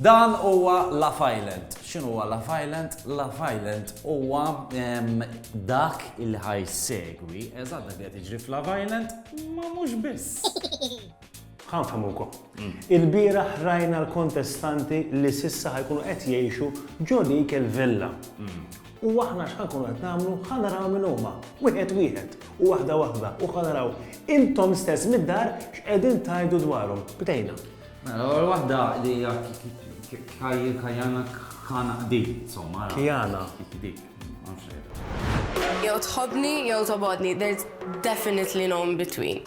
Dan huwa Love Island. X'inhu huwa Love Island? Love Island huwa dak il ħaj segwi, eżatt dak li qed jiġri f'Love Island, ma mhux biss. Ħan famukom. Mm. Il-bira ħrajna l-kontestanti li sissa ħajkunu qed jgħixu ġo dik il-villa. Mm. U aħna x'ħa nkunu qed nagħmlu? Ħa naraw min huma, wieħed wieħed, u waħda waħda, u ħa naraw intom stess mid-dar x'qegħdin tgħidu dwarhom. Bdejna. Mela, l-ewwel waħda li hija Kajana Kana Qdi, insomma. Kjana. Dik, ma nafx Jew tħobbni jew tobgħodni. Definitely no in between.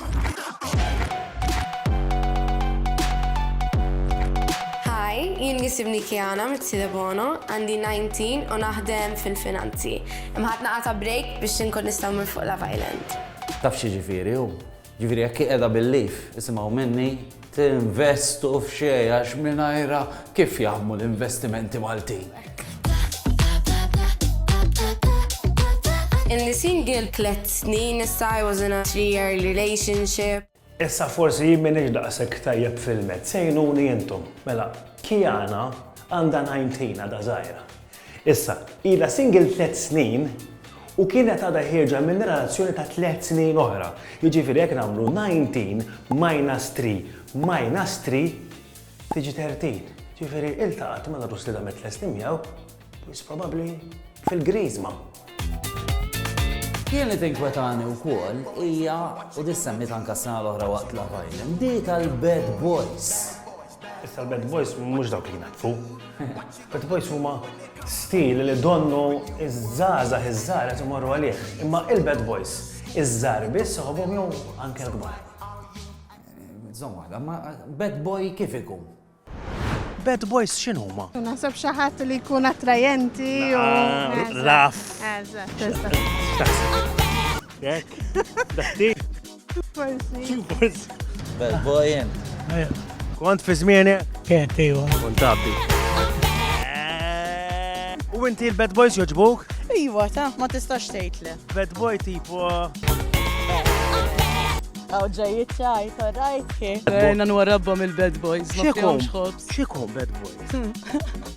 Hi, jien nisibni Kiana Mizzi Debono, għandi 19 u naħdem fil-finanzi. Imma ħadt naqgħa ta' break biex inkun nista' mmur fuq Love Island. Taf x'jiġifieri hu? Jiġifieri jekk hi qiegħda bil-leave, isimgħu minni, Tinvestu f'xejn għax mingħajrha kif jaħdmu l-investimenti Maltin? Inni single tliet snin issa I was in a three year relationship. Issa forsi jien m'iniex daqshekk tajjeb fil-mezz, għinuni intom. Mela, Kiana għandha 19 għadha żgħira. Issa, ilha single tliet snin u kienet għadha ħierġa minn relazzjoni ta' tliet snin oħra. Jiġifieri jekk nagħmlu nineteen minus three minus three tiġi thirteen. Jiġifieri iltaqgħet mal-għarus li damet tliet snin miegħu, wis probabbli fil-Griżma. Kien li tinkwetani wkoll hija u dis semmiet anke s-sena l-oħra waqt l-Love Island, di tal-Bad Boys. Issa l-Bad Boys mhux dawk li jnaddfu. Bad Boys huma stil li donnu iż-żgħażagħ iż-żgħar qed imorru għalih. Imma il-Bad Boys iż-żgħar biss soħobhom jew anke l-kbar. Żomm waħda, ma Bad Boy kif ikun? Bad Boys x'inhuma? Naħseb xi ħadd li jkun attrajenti u. Laf. Eżatt, eżatt. Dak. Dak. Bel boy int. Kont fi zmieni? Kent, iwa. Kont abbi. U inti l-bad boys joġbuk? Iwa, ta' ma tistax tgħid le. Bad boy tipo. Għaw ġejjit ċajt, rajt kif. Għajna nwarabba mill-bad boys. Xiekom? Xiekom bad boys?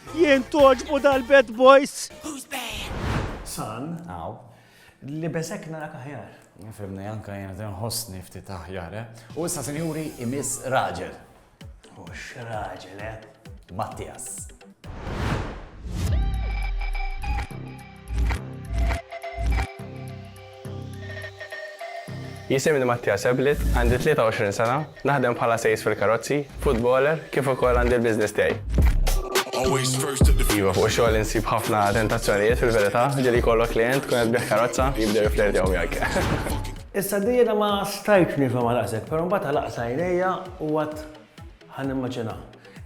Jien toġbu dal-bad boys. Who's bad? San. Aw. Li besek narak aħjar. Fimni, anka jena ten hosni ftit aħjar, eh? U issa, senjuri, imis raġel. U x-raġel, eh? Mattias. Jisimni Mattia Seblit, għandi 23 sena, naħdem bħala sejs fil-karozzi, futboler, kif ukoll għandi l-business tiegħi. Iva, fuq ix-xogħol insib ħafna tentazzjonijiet fil-verità, ġieli jkollok klient tkun qed tbigħ karozza jibdew jiflirtew miegħek. Issa di jiena ma stajtx nifhem għal aqsek, però mbagħad għal aqsa għajnejja u għad ħan immaġina.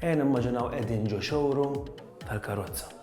Ejja nimmaġinaw qegħdin ġo showroom tal-karozza.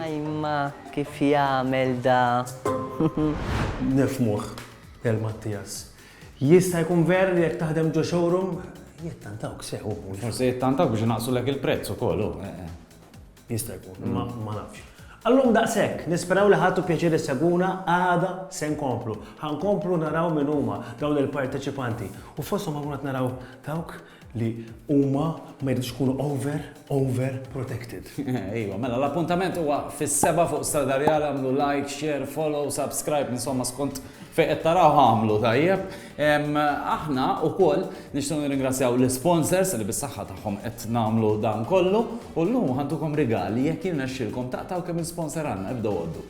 Ajma kif jagħmel da. Nifmuh, Del Mattias. Jista' jkun vera li jekk taħdem ġo showroom, jittantawk sew. Forse jittantawk biex naqsu lek il-prezz ukoll. Eh, eh. Jista' jkun, imma ma nafx. Allum daqshekk, nisperaw li ħadtu pjaċir issegwuna, għada se nkomplu. Ħa nkomplu naraw min huma dawn il-parteċipanti u fosthom ħankunu qed naraw dawk li huma ma jridux ikunu over, over protected. Ejwa, mela l-appuntament huwa fis-sebgħa fuq Strada Rjali, għamlu like, share, follow, subscribe, insomma skont fejn qed tarawha għamlu, tajjeb? Aħna wkoll nixtiequ nirringrazzjaw l-isponsors li bis-saħħa tagħhom qed nagħmlu dan kollu u llum ħantukom rigali jekk jirnexxilkom taqtgħu kemm il-sponsor għandna ibdew għoddu.